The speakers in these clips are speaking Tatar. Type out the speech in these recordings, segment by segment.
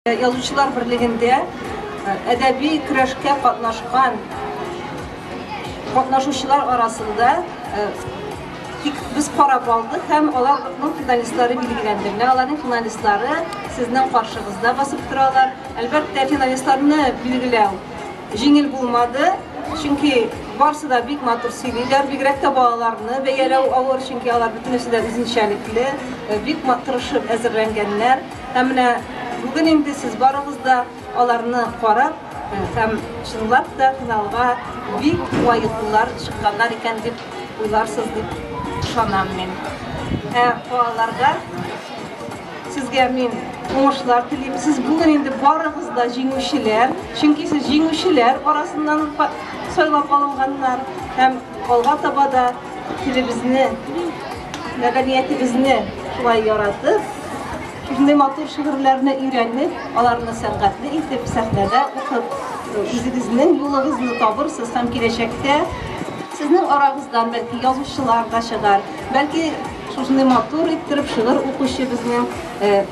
Язучылар берлегендә әдәби көрәшкә катнашкан катнашучылар арасында тик без карап алдык һәм аларның финалистлары билгеләнде. Менә аларның финалистлары сезнең каршыгызда басып торалар. Әлбәттә, финалистларны билгеләү җиңел булмады, чөнки барсы да бик матур сөйлиләр, бигрәк тә балаларны бәяләү авыр, чөнки алар бөтенесе дә үзенчәлекле, бик матур әзерләнгәннәр. Ә менә бүген инде сез барыгыз да аларны карап һәм чынлап та финалга бик лаеклылар чыкканнар икән дип уйларсыз дип ышанам мин. Ә балаларга сезгә мин уңышлар телим. Сез бүген инде барыгыз да җиңүчеләр, чөнки сез җиңүчеләр арасыннан сайлап алынганнар һәм алга таба да Телебезне, мәдәниятебезне шулай яратып, шундый матур шигырьләрне өйрәнеп, аларны сәнгатьле итеп сәхнәдә укып, үзегезнең юлыгызны табырсыз һәм киләчәктә сезнең арагыздан бәлки язучылар да чыгар, бәлки шушындай матур иттереп шигырь укучы безнең э,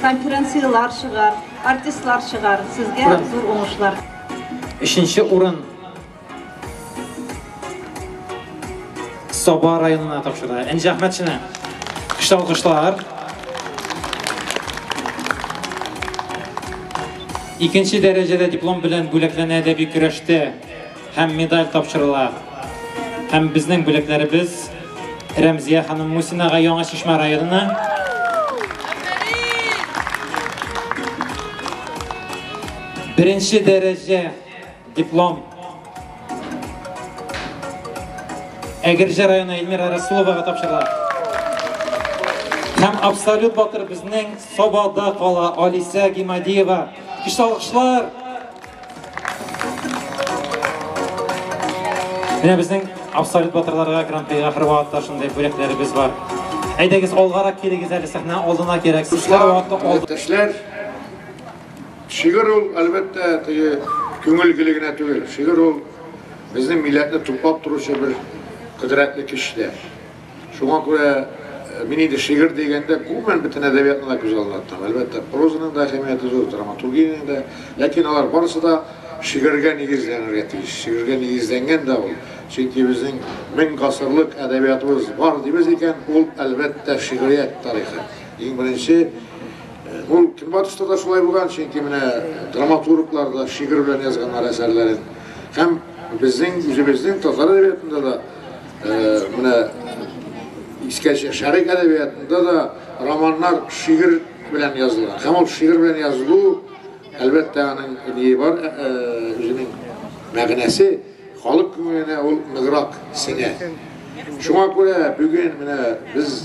конференциялар чыгар, артистлар чыгар. Сезгә зур уңышлар. Өченче урын Саба районына тапшырды. Энҗе Әхмәтшина. Көчле алкышлар. Икенче дәрәҗәдә диплом белән бүләкләнә әдәби көрәштә һәм медаль тапшырыла. Һәм безнең бүләкләребез Рәмзия ханым Мусинага Яңа Чишмә районына. Беренче дәрәҗә Диплом. Әгерҗе районы Эльмира Расуловага тапшырыла. Һәм абсолют батыр безнең Собада кала Алисә Гимадиева. Кеш алкышлар. Менә безнең абсолют батырларга гран-прига хөрмәтле шундый бүләкләребез бар. Әйдәгез алгарак килегез әле сәхнә алдына кирәк. Сүзләр вакыты алды. Төшләр Шигырь ул, әлбәттә, теге күңел гөле генә түгел. Шигырь ул безнең милләтне туплап торучы бер кодрәтле көч тә. Шуңа күрә мин инде шигырь дигәндә, гомумән бөтен әдәбиятны да күз алдына тотам. Әлбәттә, прозаның да әһәмияте зур, драматургиянең дә. Ләкин алар барысы да шигырьгә нигезләнергә тиеш. Шигырьгә нигезләнгән дә ул. Чөнки безнең мең гасырлык әдәбиятыбыз бар дибез икән, ул, әлбәттә, шигърият тарихы. Иң беренче Ул Көнбатышта да шулай булган, чөнки менә драматурглар да шигырь белән язганнар әсәрләрен. Һәм безнең үзебезнең татар әдәбиятында да э, менә искә шәрык әдәбиятында да романнар шигырь белән язылган. Һәм ул шигырь белән язылу, әлбәттә, аның ни бар, э, э, үзенең мәгънәсе халык күңеленә ул ныграк сеңә. Шуңа күрә бүген менә без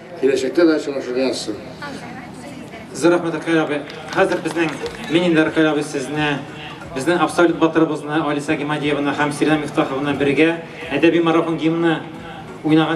Киләчәктә дә очрашырга язсын. Зур рәхмәт, Рәкәй абый. Хәзер безнең, мин инде Рәкәй абый сезне, безнең абсолют батырыбызны Алиса Гимадиеваны һәм Сиринә Мифтахованы бергә әдәби марафон гимны уйнаган